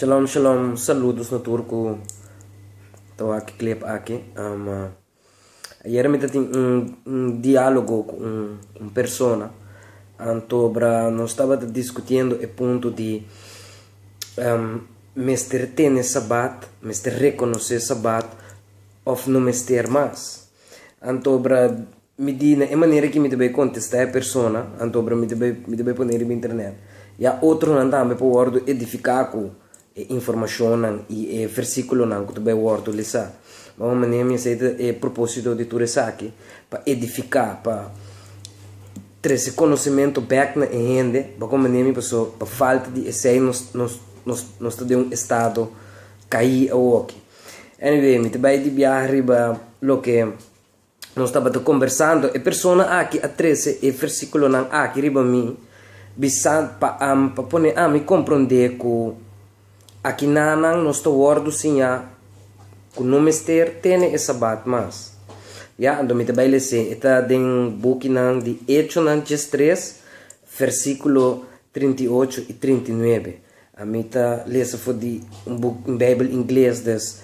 Shalom shalom saludos na tur cu ta wak e clip aki. Um, ayer mi ta tin un, un diálogo cu un, un persona antobra nos tabata discutiendo e punto di um, mester tene sabat, mester reconoce sabat of no mester mas. Anto obra mi di na e manera ki mi ta bai kontestá e persona, anto obra mi ta bai mi ta bai pone riba internet. Ya otronan tambe por wòrdu edifiká ku e informashonnan i e versíkulonan ku ta bai wòrdu lisá. Bon, e manera mi a hasi ta e propósito di tur esaki, pa edifiká, pa trese konosementu bèk na e hende bakua manera mi pasó pa falta di esei nos nos nos nos ta den un estado kaí awoki. Anyway, mi ta bai di biaha riba loke nos tabata kombersando, e persona aki a trese e versíkulonan aki riba mi, bisa pa am, pa pone ami komprondé ku akinanan nos ta wòrdu siñá ku no mester tene e Sabat mas. Ya, anto mi ta bai les'é. E ta den bukinan di Hechonan djes tres, versíkulo trinta i ocho i trinta i nuebe. Ami ta lesa for di un buk, un Bijbel ingles, des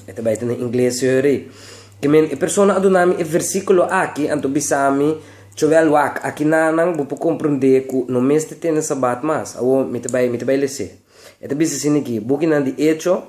e ta bai ta na ingles yori. Ki men e persona a duna mi e versíkulo aki, anto bisa mi, Chowel wak, aki nanan bo por komprondé ku no mester tene Sabat mas. Awor mi ta bai, mi ta bai les'é. E ta bisa sin di ki, bukinan di Echo.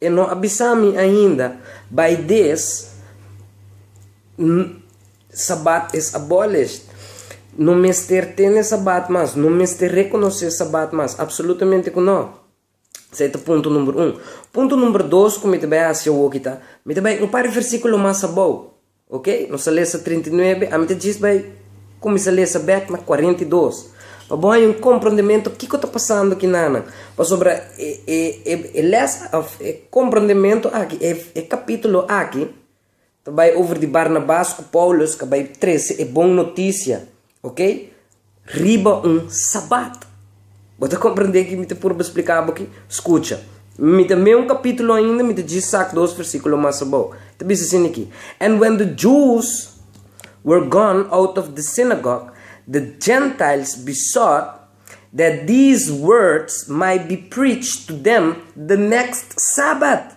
E no a bisa mi ainda, bai des N Sabbat es abolished. No mester tene Sabbat mas. No mester rekonosé Sabbat mas. Apsolutamente ku no. Esei ta punto number un. Punto number dos ku mi ta bai hasi awoki ta, mi ta bai un par di versíkulo mas abou. Ok, nos a lesa trinta i nuebe, ami ta djis bai kuminsá lesa bèk na kuarenta i dos, pa bo haña un komprondementu kiko ta pasando ki nannan, pasobra e lès òf e komprondementu aki, e kapítulo aki, ta bai over di Barnabas ku Pòulus ku a bai trese e bon notisia. Oke, riba un Sabat. Bo ta komprendé ki mi ta purba spliká bo ki? Skucha. Mi ta mei un kapítulo ainda, mi ta djis sak dos versíkulo mas abou. Ta bisa sin aki, And when the Jews were gone out of the synagogue, the Gentiles besought that these words might be preached to them the next Sabat.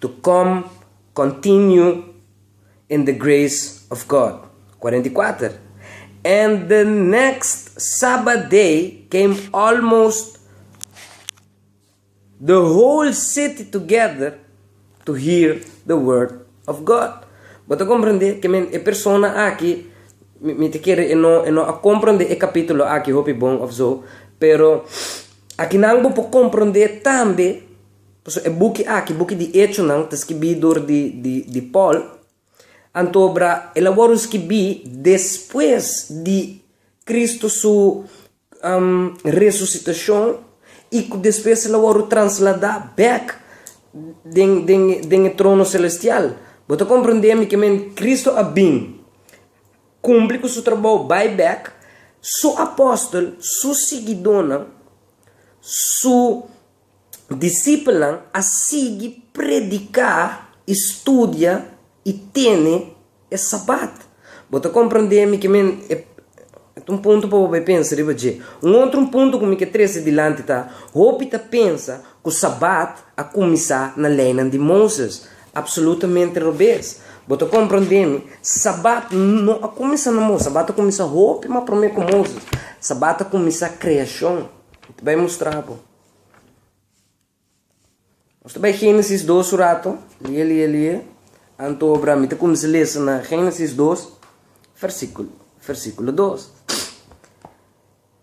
to kom kontinyu in de greis of God, kuarenta i kuater, en de nekst Sabbat dei keim almost de hol siti togeder to hir de word of God. Bo ta komprendé ke men e persona aki, mi mi ta kere e no e no a komprendé e kapitulo aki hopi bon of so, pero akinan bo por komprendé tambe, Pasobra e buki aki, buki di Echonan, ta skibí dor di Pòl, antobra el a wòrdu skibí despues di Kristu su resusitashon i ku despues el a wòrdu transladá bèk den e trono selestial. Bo ta komprendé mi ke men? Kristu a bin, kumpli ku su trabou, bai bèk, su apòstel, su siguidónan, su. Disipelnan a sigui prediká i studia i tene e Sabat. Bo ta komprendé mi ke mi e ta un punto pa bo bai pensa riba dje. Un otro punto ku mi ke trese dilanti ta, hopi ta pensa ku Sabat a kuminsá na Leinan di Moses. Apsolutamente robes. Bo ta komprendé mi, Sabat no a kuminsá na Moses, Sabat a kuminsá hopi mas promé ku Moses. Sabat a kuminsá kreashon. Mi ta bai mustra bo. Nos ta bai Génesis dos un ratu. Lie, lie, lie. Anto obra mi ta kuminsá lesa na Génesis dos, versíkulo, versíkulo dos.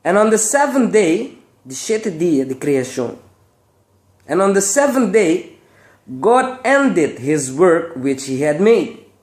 En on the seventh day, di shete dia di kreashon, en on the seventh day, God ended his work which he had made.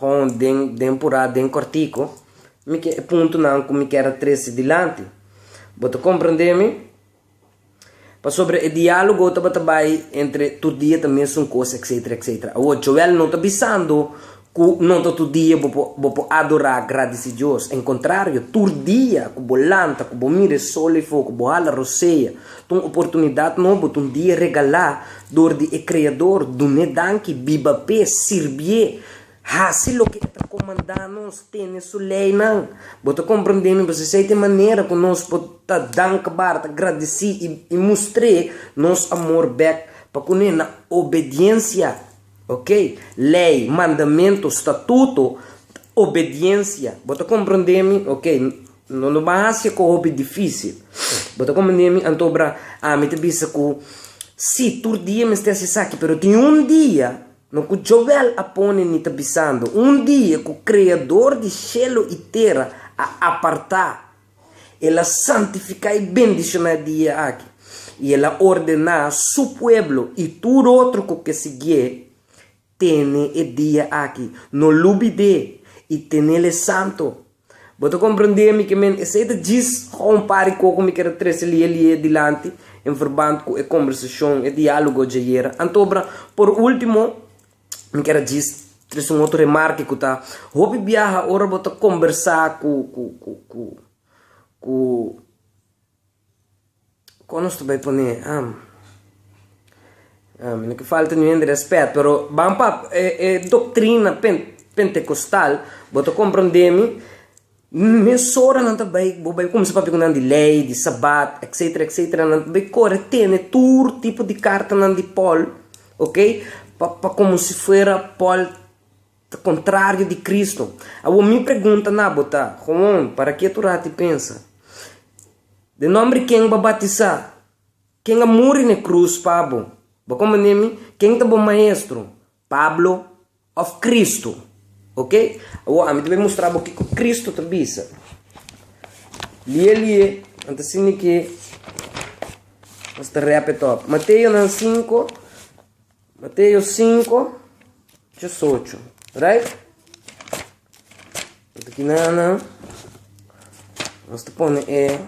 Hon den den purá den kòrtiku mi ke e puntunan ku mi kier a trese dilanti. Bo ta komprendé mi? Pasobra e diálogo tabata bai entre tur dia ta mesun kos, etsetera, etsetera. Awor, Joel no ta bisando ku no ta tur dia bo por bo por adorá, gradisí Dios. En kontrario, tur dia ku bo lanta, ku bo mira e sol e fo, ku bo hala rosea, ta un oportunidat nobo, ta un dia regalá Dor di e Kreador, dun'é danki, biba p'e, sirbié, hasi loke e ta komandá nos, tene su leinan. Bo ta komprendé mi? P'esei esei ta e manera ku nos por ta dankbar, ta gradisí i mustr'é nos amor bèk pa kuné na obediensia, oke? Lei, mandamentu, statuto, obediensia. Bo ta komprendé mi? Oke. No lo ban hasi cu hopi dificil. Bo ta comprende mi? Antobra ami ta bisa cu si, tur dia mester hasi esaki, pero tin un dia, no cu Joel a pone ni ta bisando, un dia cu Creador di cielo y tera a aparta, el a santifica y bendiciona e dia aki, y el a ordena su pueblo y tur otro cu ke sigie tene e dia aki. No lubi d'e i tenel e santo. Bo ta komprendé mi ke men? Esei ta djis gou un par di koko mi ke ta trese li'é li'é dilanti en verband ku e kombersashon, e diálogo djayera. Anto bra, por último, mi ker a djis trese un otro remarke ku ta, hopi biaha ora bo ta kombersá ku, ku, ku, ku, ku. Kon nos ta bai pone ham? Mi no ke falta niun hende rèspèt, pero ban pa e doktrina pentekostal, bo ta komprondé mi, mes ora nan ta bai, bo bai kumsa papia ku nan di lei, di sabat, etsetera, etsetera, nan ta bai kore tene tur tipo di kartanan di pòl, ok, pa pa komo si fuera pòl. Ta kontrario di Kristu. Awor mi pregunta na bo ta, Hoon, parak'é tur ati pensa? Den nòmber ken b'a batisá? Ken a muri n'e krus pa bo? Bo komprendé mi? Ken ta bo maestro? Pablo òf Kristu? Oke, awor ami ta bai mustra bo kiko Kristu ta bisa. Lié lié, nan ta sinti ke nos ta rèp e tòp. Mateonan sinku. Mateo sinku, diosocho, right? Ora ki nana nos ta pone e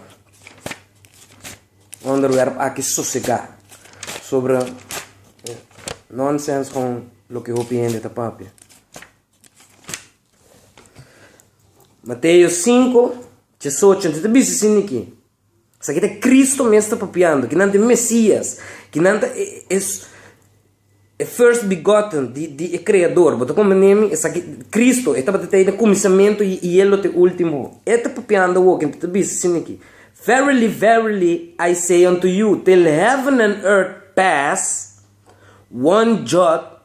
onderwerp aki sosegá sobra e nonsens kon loke hopi hende ta papia. Mateo sinku, diosocho, ta bisa sin di ki? Sa ki ta Kristu mes ta papiando, kinan ta e Mesias, kinan ta e First Begotten di e Kreador. Bo ta komprendé mi? Esaki, Kristu, e tabata ta den kuminsamentu i e lo ta e últimu. E ta papiando awor, kende ta bisa asin aki, Verily, verily, I say unto you, till heaven and earth pass, one jot